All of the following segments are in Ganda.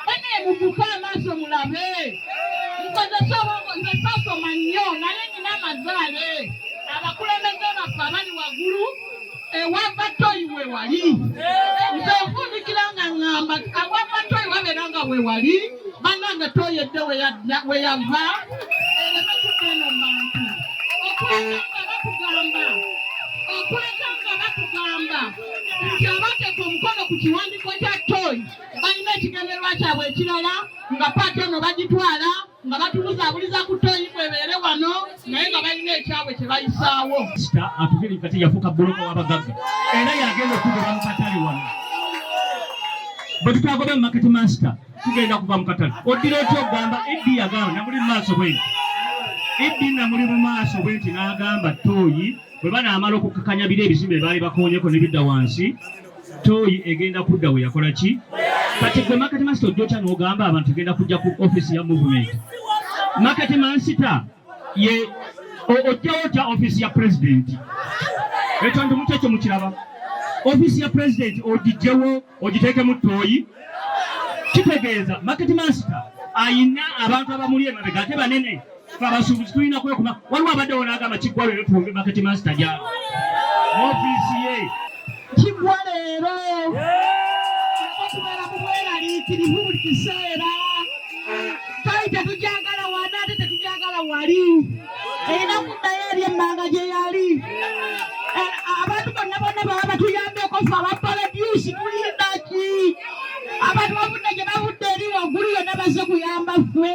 Banaye mukuke amaaso mulabe. Nkozesa obwongo nze sasoma nnyo naye nina amazaale. Abakulembeze baffe abali waggulu ewava toyi we wali. Nze nfundikira nga ngamba awava toyi wabeera nga we wali bannange toyi edde we yava ereme kugenda mu bantu. Okuleka nga batugamba okuleka nga batugamba nti abateeka omukono ku kiwandiiko kya toyi balina ekigendererwa kyabwe ekirala nga paati ono bagitwala nga batubuzaabuliza ku toyi kwebeere wano naye nga balina ekyabwe kye bayisaawo sita atuviri kati yafuuka bbuloko w'abagagga era yagenda okugera mu katale wano bwe tutagobe mu maketi masita tugenda kuva mu katale oddira oti ogamba eddi yagamba namuli mu maaso bwenti eddi namuli mu maaso bwenti n'agamba tooyi bwe banaamala okukakanya biro ebizimbe baali bakoonyeko ne bidda wansi tooyi egenda kudda we yakola ki kati gwe makati masita ojjokya n'ogamba abantu egenda kujja ku ofisi ya movement makati mansita ye ojjawo otya ofisi ya pulezidenti ekyo ndi mukyekyo mukiraba ofisi ya pulezidenti ogijjewo ogiteekemu tooyi kitegeeza makati mansita ayina abantu abamuli emabega ate banene fe abasuubuzi tulina kwekuba waliwo abaddewo n'agamba kiggwa leero tuwumbe maketi masita gyabo mu ofiisi ye kiggwa leero okubeera mu bweraliikirivu buli kiseera twali tetujagala wana ate tetujagala wali erina kuddayo eri emmanga gye yali abantu bonna bonna baba batuyambeko fe abapaladyusi tulindaki abantu bavudde gye bavudde eri waggulu yonna bazze kuyamba ffe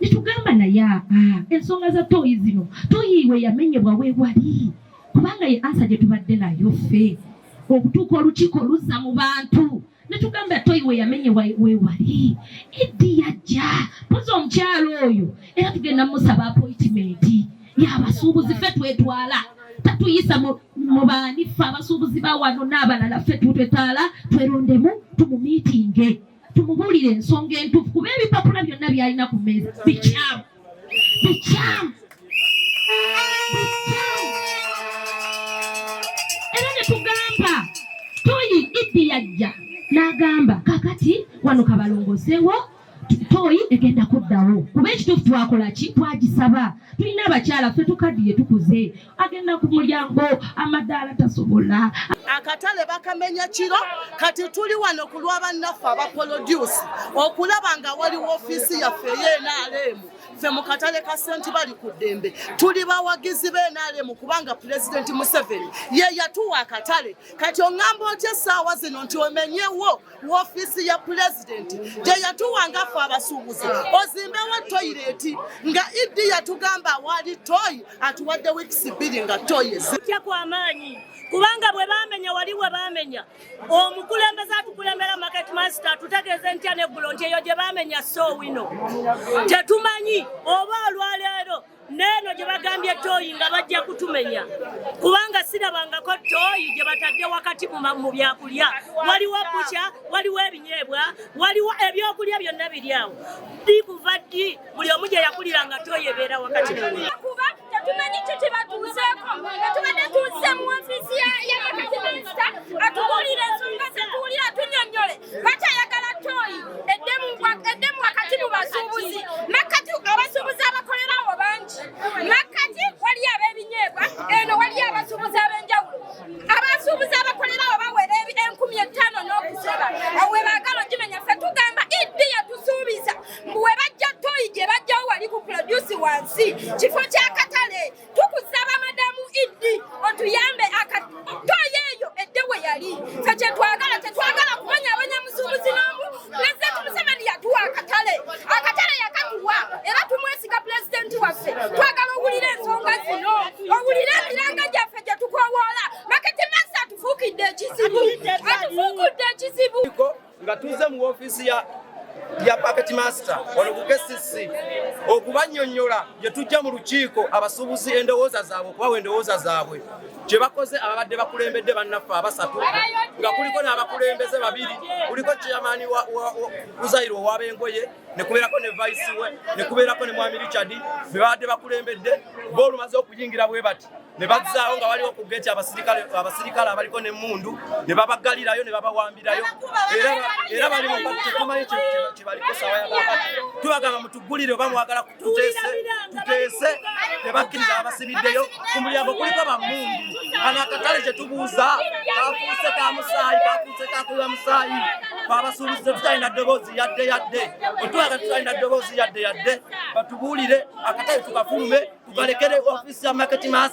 netugamba naye aa ah, ensonga za toyi zino toyi we yamenyebwa wewali kubanga ye ansa gye tubadde nayo ffe okutuuka olukiiko luzza mu bantu netugamba toyi we yamenye wewali eddi yajja poza omukyalo oyo era tugenda musaba apoitimenti yabasuubuzi ffe twetwala tatuyisa mu baani ffe abasuubuzi bawano n'abalala ffe twetwala twerondemu tumumiitinge tumubuulire ensonga entuufu kuba ebipapula byonna byalina ku meeza bikyamu bikyamu era ne tugamba toyi iddi yajja n'agamba kakati wano kabalongosewo toyi egenda kuddawo kuba ekituufu twakola ki twagisaba tulina abakyala ffe tukaddiye tukuze agenda ku mulyango amadaala tasobola akatale bakamenya kiro kati tuli wano ku lwa bannaffe abapolodyusi okulaba nga wali woofiisi yaffe eyenaalemu ffe mu katale ka senti bali ku ddembe tuli bawagizi benaalemu kubanga pulezidenti museveni ye yatuwa akatale kati oŋŋamba otya essaawa zino nti omenyewo wofiisi ya pulezidenti gye yatuwa nga ffe abasuubuzi ozimbewo toyireeti nga iddi yatugamba awaali toyi atuwadde wiikisi bbiri nga toyi ezitya kwamaanyi kubanga bwe bamenya wali we bamenya omukulembeze atukulembera market master atutegeeze ntya neggulo nti eyo gye bamenya soowino tetumanyi oba olwaleero neeno gye bagambye tooyi nga bajja kutumenya kubanga sirabangako tooyi gye batadde wakati mu byakulya waliwo bukya waliwo ebinyeebwa waliwo ebyokulya byonna biri awo ddi kuva ddi buli omu gye yakulira nga tooyi ebeera wakati kuba tetumanyi kyo kye batuuzeeko nga tubadde tuuze mu ofiisi ya bakati minisita atubuulire ensonga zetuwulira tunyonyole bakyayagala toyi eddemu wakati mu basuubuzi makkati abasuubuzi abakolerawo bangi makkati waliyo ab'ebinyeebwa eno waliyo abasuubuzi ab'enjawulo abasuubuzi abakolerawo bawera enkumi ettaano n'okusoba awo we baagala ogimenya ffe tugamba iddi yatusuubiza mbu we bajja toyi gye bajjawo wali ku produsi wansi kifo ky'akatale tukusaba madamu iddi otuyambe akatoyo eyo edde we yali fe kyetwagala tetwagala kumanya abanyamusuubuzi n'omu pulezidenti museveni yatuwa akatale akatale yakatuwa era tumwesiga pulezidenti waffe twagala owulire ensonga zino owulire emiranga gyaffe gye tukowoola maketi masi atufuukidde ekizibu atufuukudde ekizibu nga tuze mu ofiisi ya ya packet master wano ku KCC okubanyonyola gye tujja mu lukiiko abasuubuzi endowooza zaabwe okubawa endowooza zaabwe kye bakoze ababadde bakulembedde bannaffe abasatu nga kuliko n'abakulembeze babiri kuliko chairman uzayiro owabengoye nekubeerako ne vice we nekubeerako ne mwami richard bebabadde bakulembedde bo olumaze okuyingira bwe bati ne bazzaawo nga waliwo ku geeti abasirikale abaliko n'emmundu ne babaggalirayo ne babawambirayo era bali mutumanyi kyebaliko sawa yabakati tubagamba mutuggulire oba mwagala tuteese tuteese ne bakkiriza abasibiddeyo ku mulyango kuliko bammundu kano akatale kye tubuuza kafuuse ka musaayi kafuuse kakuba musaayi twabasuubiza tutalina ddoboozi yadde yadde otwaga tutalina ddoboozi yadde yadde batubuulire akatale tukafulume tukalekere ofisi ya market mass